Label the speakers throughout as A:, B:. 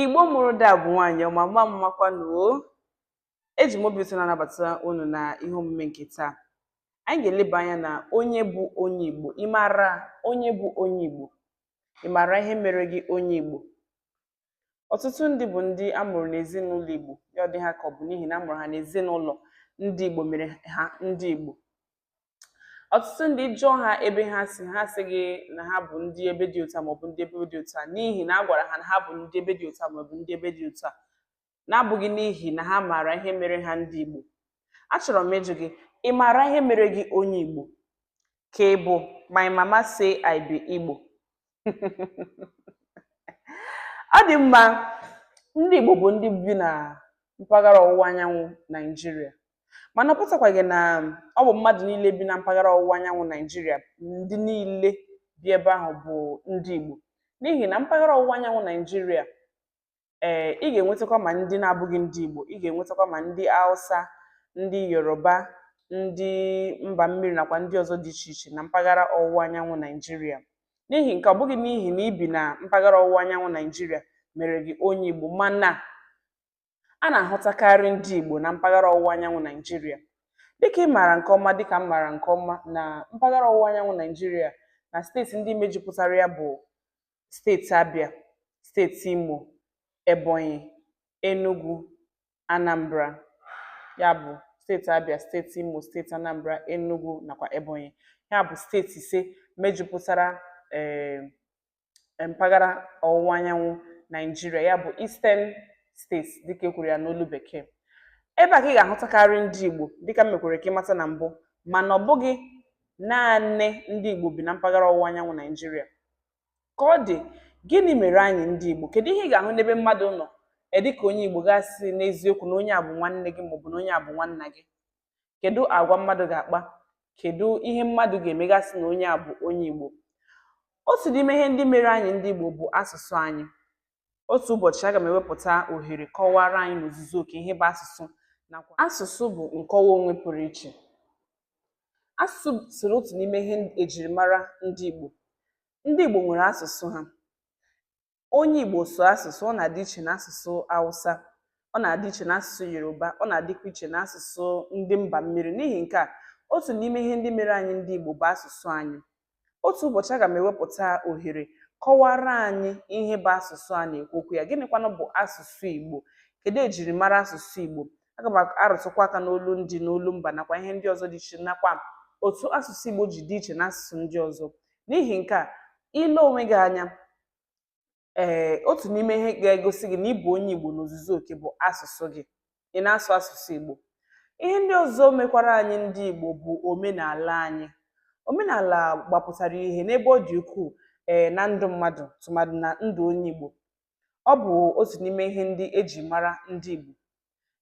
A: igbo mụrụ ada bụ nwaanyị ọma mma mmakwanụ o eji m obi ụtọ na-anabata unu na ihe omume nke taa anyị ga-eleba anya na onye bụ onye igbo ị maara onye bụ onye igbo ị maara ihe mere gị onye igbo ọtụtụ ndị bụ ndị a mụrụ n'ezinụlọ igbo ya ọ dị ha ka ọ bụ n'ihi na a mụrụ ha n'ezinụlọ ndị igbo mere ha ndị igbo ọtụtụ ndị ị jụọ ha ebe ha si ha asị gị na ha bụ ndị ebe dị otu a maọbụ ndị ebe dị otu a n'ihi na a gwara ha na ha bụ ndị ebe dị otu a maọbụ ndị ebe dị otu a na-abụghị n'ihi na ha maara ihe mere ha ndị Igbo achọrọ m ịjụ gị ị maara ihe mere gị onye Igbo ka ị bụ my mama say I be Igbo ọ dị mma ndị Igbo bụ ndị bi na mpaghara ọwụwa anyanwụ Naijiria mana ọ pụtakwaghị na ọ bụ mmadụ niile bi na mpaghara ọwụwa anyanwụ Naijiria ndị niile bi ebe ahụ bụ ndị Igbo n'ihi na mpaghara ọwụwa anyanwụ Naijiria ee ị ga-enwetakwa ma ndị na-abụghị ndị Igbo ị ga-enwetakwa ma ndị Hausa ndị Yoruba ndị mba mmiri nakwa ndị ọzọ dị iche iche na mpaghara ọwụwa anyanwụ Naijiria n'ihi nke a ọ bụghị n'ihi na i bi na mpaghara ọwụwa anyanwụ Naijiria mere gị onye Igbo mana a na-ahụtakarị ndị Igbo na mpaghara ọwụwa anyanwụ Naijiria dịka ị maara nke ọma dịka m maara nke ọma na mpaghara ọwụwa anyanwụ Naijiria na steeti ndị mejupụtara ya bụ steeti Abịa, steeti Imo, Ebonyi, Enugwu, Anambra. Ya bụ steeti Abịa, steeti Imo, steeti Anambra, Enugwu nakwa Ebonyi. Ya bụ steeti ise mejupụtara eh, mpaghara ọwụwa anyanwụ Naijiria, ya bụ Eastern States dịka e kwuru ya n'olu bekee. Ebe a ka ị ga-ahụtakarị ndị Igbo dịka m mekwere ka ị mata na mbụ mana ọ bụghị naanị ndị Igbo bi na mpaghara ọwụwa anyanwụ Naijiria. ka ọ dị gịnị mere anyị ndị Igbo kedu ihe ị ga-ahụ n'ebe mmadụ nọ e dịka onye Igbo gị asị n'eziokwu na onye a bụ nwanne gị maọbụ na onye a bụ nwanna gị kedu agwa mmadụ ga-akpa kedu ihe mmadụ ga-eme gị asị na onye a bụ onye Igbo otu n'ime ihe ndị mere anyị ndị Igbo bụ asụsụ anyị otu ụbọchị aga m ewepụta ohere kọwara anyị n'ozuzu oke ihe bụ asụsụ nakwa asụsụ bụ nkọwa onwe pụrụ iche asụsụ soro otu n'ime ihe ejirimara ndị Igbo ndị Igbo nwere asụsụ ha onye Igbo sụọ asụsụ ọ na-adị iche na asụsụ Hausa ọ na-adị iche na asụsụ Yoruba ọ na-adịkwa iche na asụsụ ndị mba mmiri n'ihi nke a otu n'ime ihe ndị mere anyị ndị Igbo bụ asụsụ anyị otu ụbọchị aga m ewepụta ohere kọwara anyị ihe bụ asụsụ a na-ekwu okwu ya gịnịkwanụ bụ asụsụ Igbo kedu ejirimara asụsụ Igbo aga m arụtụkwa aka n'olu ndị n'olu mba nakwa ihe ndị ọzọ dị iche nakwa otu asụsụ Igbo ji dị iche na asụsụ ndị ọzọ n'ihi nke a i lee onwe gị anya ee eh, otu n'ime ihe ga-egosi gị na ịbụ onye Igbo n'ozuzu oke bụ asụsụ gị ị na-asụ asụsụ Igbo ihe ndị ọzọ mekwara anyị ndị Igbo bụ omenala anyị omenala gbapụtara ihe n'ebe ọ dị ukwuu ee eh, na ndụ mmadụ tụmadụ na ndụ onye Igbo ọ bụ otu n'ime ihe ndị eji mara ndị Igbo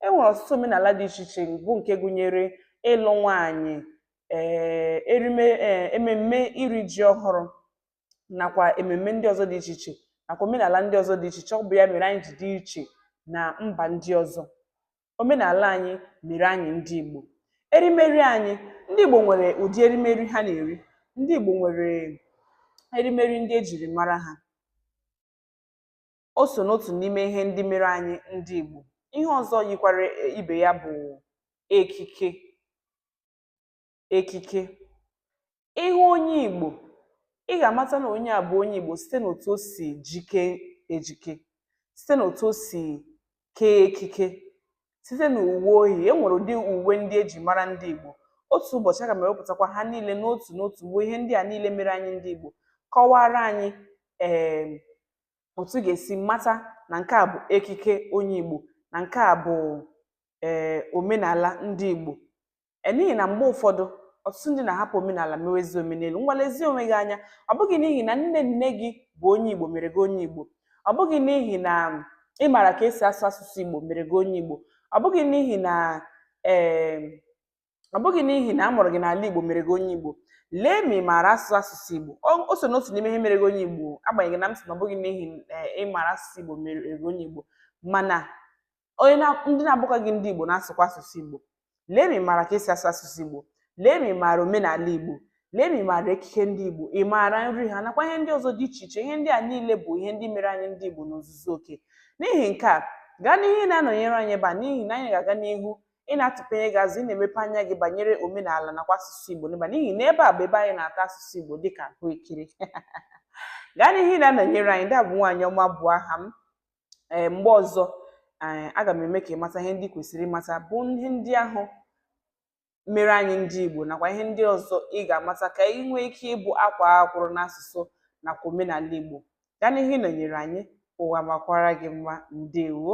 A: e nwere ọtụtụ omenala dị iche iche bụ nke gụnyere ịlụ nwaanyị ee eh, ememme iri ji ọhụrụ nakwa ememme ndị ọzọ dị iche iche nakwa omenala ndị ọzọ dị iche iche ọ bụ ya mere anyị ji dị iche na mba ndị ọzọ omenala anyị mere anyị ndị Igbo erimeri anyị ndị Igbo nwere ụdị erimeri ha na-eri ndị Igbo nwere erimeri ndị ejiri mara ha o so n'otu n'ime ihe ndị mere anyị ndị Igbo ihe ọzọ yikwara ibe ya bụ ekike ekike ị hụ onye Igbo ị ga-amata na onye a bụ onye Igbo site n'otu o si jike ejike site n'otu o si kee ekike site na uwe o yi e nwere ụdị uwe ndị eji mara ndị Igbo otu ụbọchị aga m ewepụtakwa ha niile n'otu n'otu bụ ihe ndị a niile mere anyị ndị Igbo kọwara anyị ee otu ga-esi mata na nke a bụ ekike onye Igbo na nke a bụ ee omenala ndị Igbo e, n'ihi na mgbe ụfọdụ ọtụtụ ndị na-ahapụ omenala mewezi omenelu ngwa lezie onwe gị anya ọ bụghị n'ihi na nne nne gị bụ onye Igbo mere gị onye Igbo ọ bụghị n'ihi na ị maara ka esi asụ asụsụ Igbo mere gị onye Igbo ọ bụghị n'ihi na ee ọ bụghị n'ihi na a mụrụ gị n'ala Igbo mere gị onye Igbo lee ma ị maara asụ asụsụ Igbo o so n'otu n'ime ihe mere gị onye Igbo agbanyeghị na m sị na ọ bụghị n'ihi e, ị maara asụsụ Igbo mere gị onye Igbo mana onye na- ndị na-abụkwaghị ndị Igbo na-asụkwa asụsụ Igbo lee ma ị maara ka esi asụ asụsụ Igbo lee ma ị maara omenala Igbo lee ma ị maara ekike ndị Igbo ị maara nri ha nakwa ihe ndị ọzọ dị iche iche ihe ndị a niile bụ ihe ndị mere anyị ndị Igbo n'ozuzu oke n'ihi nke a gaa n'ihu ị na-anọnyere anyị ebe a n'ihi na anyị ga-aga n'ihu ị na-atụpenye gị azụ ị na-emepe anya gị banyere omenala nakwa asụsụ Igbo n'ebe a n'ihi na ebe a bụ ebe anyị na-ata asụsụ Igbo dịka ahụekere gaa n'ihu ị na-anọnyere anyị ndị a bụ nwaanyị ọma bụ aha m ee mgbe ọzọ ee aga m eme ka ị mata ihe ndị kwesịrị ịmata bụ ihe ndị ahụ mere anyị ndị Igbo nakwa ihe ndị ọzọ ị ga-amata ka ị nwee ike ịbụ akwaa akwụrụ n'asụsụ nakwa omenala Igbo gaa n'ihu ịnọnyere anyị ụwa makwara gị mma ndewo